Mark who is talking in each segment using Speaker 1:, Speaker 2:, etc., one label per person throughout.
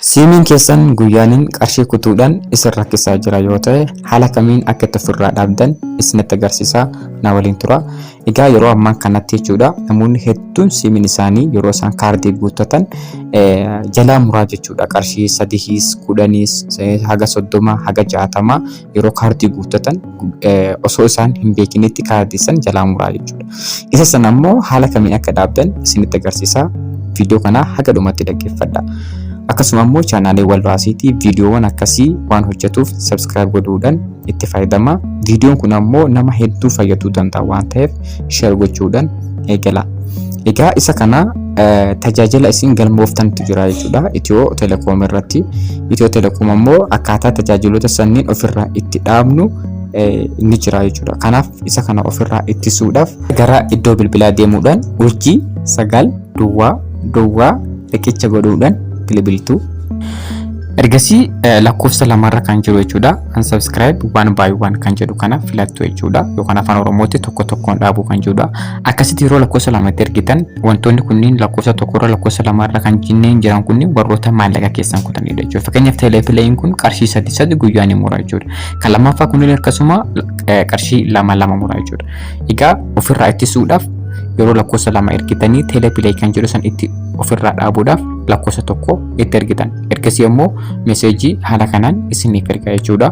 Speaker 1: Siimiin keessan guyyaaniin qarshii kutuudhaan isin rakkisaa jira yoo ta'e haala kamiin akka itti ofirraa dhaabdan isinitti agarsiisaa na waliin tura. Egaa yeroo ammaa kanatti jechuudha namoonni hedduun siimiin isaanii yeroo isaan kaardii guuttatan jalaa muraa jechuudha qarshii sadihiis kudhaniis haga soddoma haga jaatama yeroo kaardii guuttatan osoo isaan hin beekinitti kaardii san jalaa muraa jechuudha. Isa sana immoo haala kamiin akka dhaabdan isinitti agarsiisaa viidiyoo kana haga dhumatti dhaggeeffadha. Akkasuma immoo chaanaalee walbaasiitii viidiyoowwan akkasii waan hojjetuuf sabskiraayib godhuudhaan itti fayyadama. Viidiyoon kun ammoo nama hedduu fayyaduu danda'a waan ta'eef share gochuudhaan eegala. Egaa isa kana tajaajila isin galmooftantu jira jechuudha. Itiyoo telekoom irratti. Itiyoo telekoom ammoo akkaataa tajaajiloota sanniin ofirraa itti dhaabnu ni jira jechuudha. Kanaaf isa kana ofirraa ittisuudhaaf gara iddoo bilbilaa deemuudhaan urjii sagal duwwaa duwwaa riqicha godhuudhaan bilbiltu. Ergasii lakkoofsa lamarra kan jiru jechuudha. Unsubscribe one by one kan jedhu kana filattu jechuudha. Yookaan afaan Oromootti tokko tokkoon dhaabuu kan jedhudha. Akkasitti yeroo lakkoofsa lamatti ergitan wantoonni kunniin lakkoofsa tokkorra lakkoofsa lamarra kan jinneen jiran kunniin warroota maallaqa keessan kutanidha jechuudha. Fakkeenyaaf teeleepileeyiin kun qarshii sadii sadii guyyaa ni mura jechuudha. Kan lammaffaa kunniin akkasuma qarshii lama lama mura jechuudha. Egaa ofirraa ittisuudhaaf yeroo lakkoofsa lama ergitanii teeleepileey kan jedhu san itti ofirraa dhaabuudhaaf lakkoofsa tokko itti ergitan. Ergasii immoo meseejii haala kanaan isiniif erga jechuudha.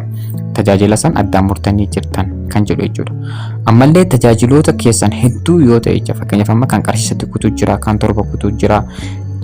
Speaker 1: Tajaajila san addaan murtanii jirtan kan jedhu jechuudha. Ammallee tajaajiloota keessan hedduu yoo ta'e jecha fakkeenyaaf amma kan qarshii sadi kutuu jira, kan torba kutuu jira.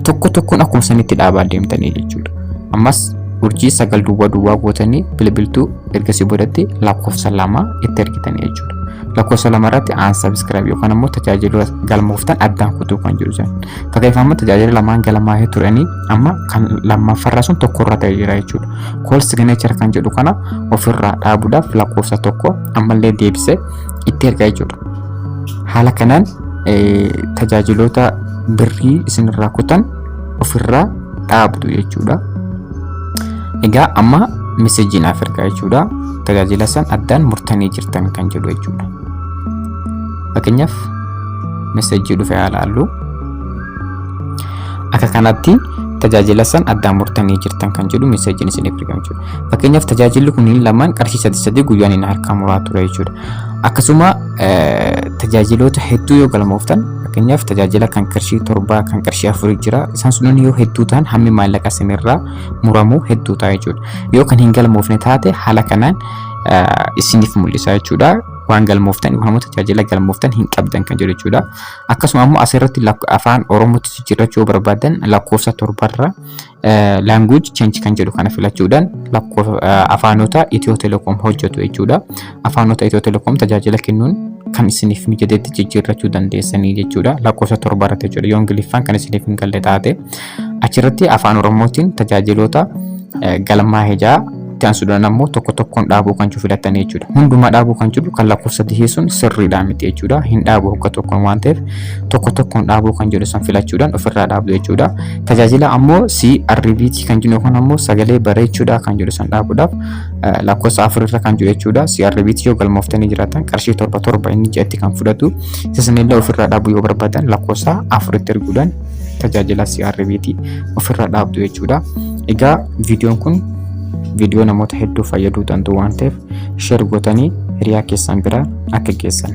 Speaker 1: Tokko tokkoon akkuma sanitti dhaabaa deemtanii jechuudha. Ammas urjii sagal duwwaa duwwaa gootanii bilbiltuu ergasii boodatti lakkoofsa lama itti ergitanii jechuudha. Lakkoofsa lama irratti aan sabiskiraayib yookaan immoo tajaajila galmooftan addaan kutuu kan jiru jiran. Fakkeenyaaf amma tajaajila lamaan galmaa'ee turanii amma kan lammaffarraa sun tokko irra ta'ee jira jechuudha. Kool sigineechar kan jedhu kana ofirraa dhaabuudhaaf lakkoofsa tokko ammallee deebisee itti ergaa jechuudha. Haala kanaan tajaajiloota birrii isinirraa kutan ofirraa dhaabdu jechuudha. Egaa amma meseejii naaf ergaa jechuudha. Tajaajila san addaan murtanii jirtan kan jedhu jechuudha. Fakkeenyaaf meseejii dhufe haa laallu. Akka kanatti tajaajila san addaan murtanii jirtan kan jedhu meseejiin isiniif ergama jechuudha. Fakkeenyaaf tajaajilli kunniin lamaan qarshii sadii sadii guyyaan inni harkaa muraa ture jechuudha. Akkasuma tajaajiloota hedduu yoo galmooftan fakkeenyaaf tajaajila kan qarshii torbaa kan qarshii afurii jira isaan sunan yoo hedduu ta'an hammi maallaqa isinirraa muramu hedduu ta'a jechuudha. Yoo kan hin galmoofne taate haala kanaan isiniif mul'isa jechuudha. Waan galmooftan yookaan immoo tajaajila galmooftan hin qabdan kan jedhu jechuudha. Akkasuma immoo asirratti afaan Oromootti jijjiirrachuu yoo barbaadan lakkoofsa torbarra language change kan jedhu kana filachuudhaan lakkoofsa afaanota Itiyoo Telekoom hojjetu jechuudha. Afaanota Itiyoo Telekoom tajaajila kennuun kan isiniif mijatetti jijjiirrachuu dandeessanii jechuudha. Lakkoofsa torba irratti jechuudha. Yoo Ingiliffaan kan isiniif hin galle taate achirratti afaan Oromootiin tajaajiloota galmaa'ee ja'a Itti aansuudhaan ammoo tokko tokkoon dhaabuu kan jiru filattanii jechuudha. Hundumaa dhaabuu kan jiru kan lakkoofsa dihee sun sirriidhaa miti jechuudha. Hin dhaabu hogga tokkoon waan ta'eef tokko tokkoon dhaabuu kan jedhu san filachuudhaan ofirraa dhaabdu jechuudha. Tajaajila ammoo CRBT kan jennu kun ammoo sagalee bareechuudhaa kan jedhu san dhaabuudhaaf lakkoofsa afurirra kan jiru jechuudha. CRBT yoo galmooftanii jiraatan qarshii torba torba inni ja'atti kan fudhatu. Isa sanillee ofirraa dhaabuu yoo barbaadan lakkoofsa afuritti erguudhaan tajaajila CRBT ofirra dhaabdu jechuudha. Egaa viidiyoon kun viidiyoo namoota hedduu fayyaduu danda'u waan ta'eef sheer gootanii hiriyaa keessan bira akka geessan.